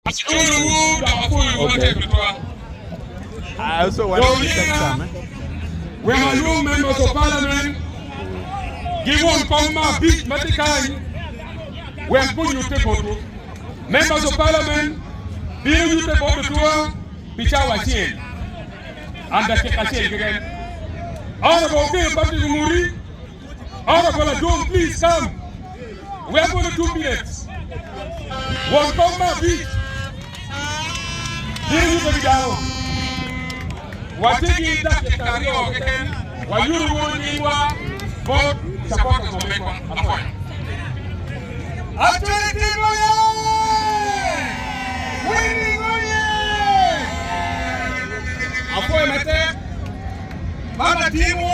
Aculowu dok apwoyowu matek tutwal. Dong omyera wek alwong Members of Parliament giwon kom ma abic ma tye kany wek gunyutte botwu. Members of Parliament bino nyutte bot Otua pi cawa acel and dakika acel keken. Honorable Okello Patrick Omuri. Order for Ladwong please come. We are gonna two minutes. Won kom ma abic. Biro yubbe ki dano. Watye ki dakika aryo keken. Wayuto wunu nyingwa bot supporters wa me akwonyo. Atwene Tim oye! Winning oye! Apwoyo matek. Baba Tim-wu.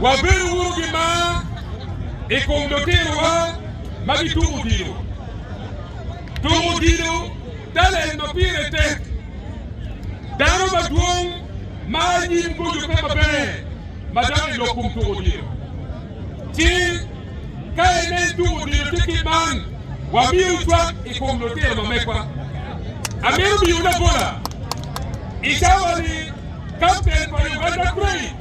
Wabedo wunu ki mar i kom lutirowa ma gituko odilo. Tuko odilo talent ma pire tek. Dano madwong ma anyim goco pe maber ma dok i lok kom tuko odilo. Ci ka inen tuko odilo tye kit man, wamiyo cwak i kom lutino ma megwa. Amito miyowu labola i cawa-ni. Kapten pa Uganda Cranes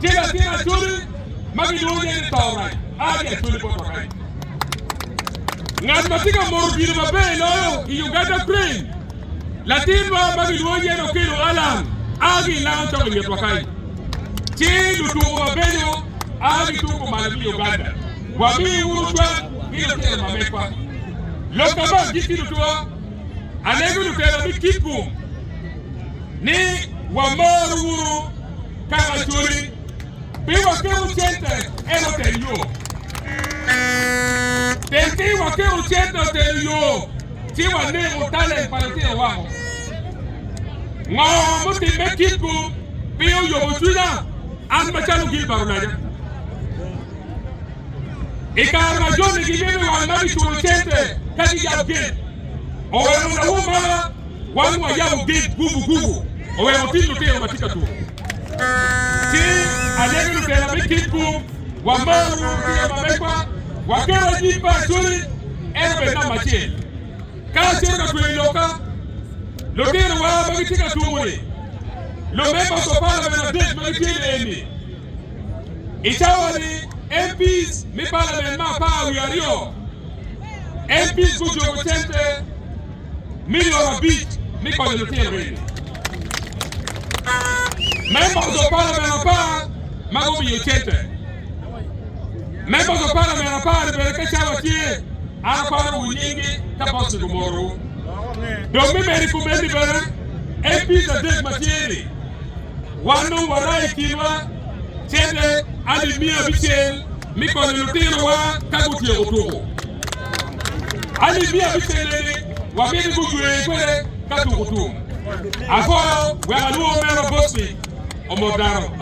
ki latin Acholi ma gilwongo nyinge ni Tauraj Adi Acholi bot wa kany. Ngat ma tye ka moro gire maber loyo i Uganda Cranes, latinwa ma gilwongo nyinge ni Okello Allan a ki i Lango Cok i ngetwa kany. Ci lutuko mabeco a gituko malo ki i Uganda, wami wunu cwak ki lutino ma mekwa. Lok ka ma agikki lutwa, alego lutela me Kitgum. ni wamor wunu ka macoli pi waketo cente eno teng yo. Teng pi waketo cente otelo yo ci waneko talent pa litino wako. Ngo mutimme kitgu pi oyobo cwinya an macalo Gilbert Olaja. I kare ma joni gimito wang ma giculo cente ka giyab gate, oweko nawu mara Wan wayabo gig gubu gubu owek wating lutino ma tye ka tuko ki anege lutela me kit bung. Wamaro ruru ki yam amegwa. Waketo anyim me Acholi en obed namba acel ka acito ka tweyo lokka. Lutinowa ma gitye ka tuko-ni, Lu Members of Parliament adek ma gitye ni eni, I cawa-ni MPs me Parliament me apar wiye aryo, MPs gujobo cente. milion abic me konyo lutino eni. Members of Parliament apar ma gumiyo cente. Members of Parliament apar-ri bene ka cawa tye, an aparowu nyinggi ka bot ciko morowu. Dong me medo i kom enni bene, MPs adek ma tye-ni, wan dong warayo i kinwa cente alip miya abicel me konyo lutinowa ka gutyeko tuko. Alibia bicennene wabedo gujwer kwede ka tuko tum. Akoro wek alwor mera bot-pi omot dano.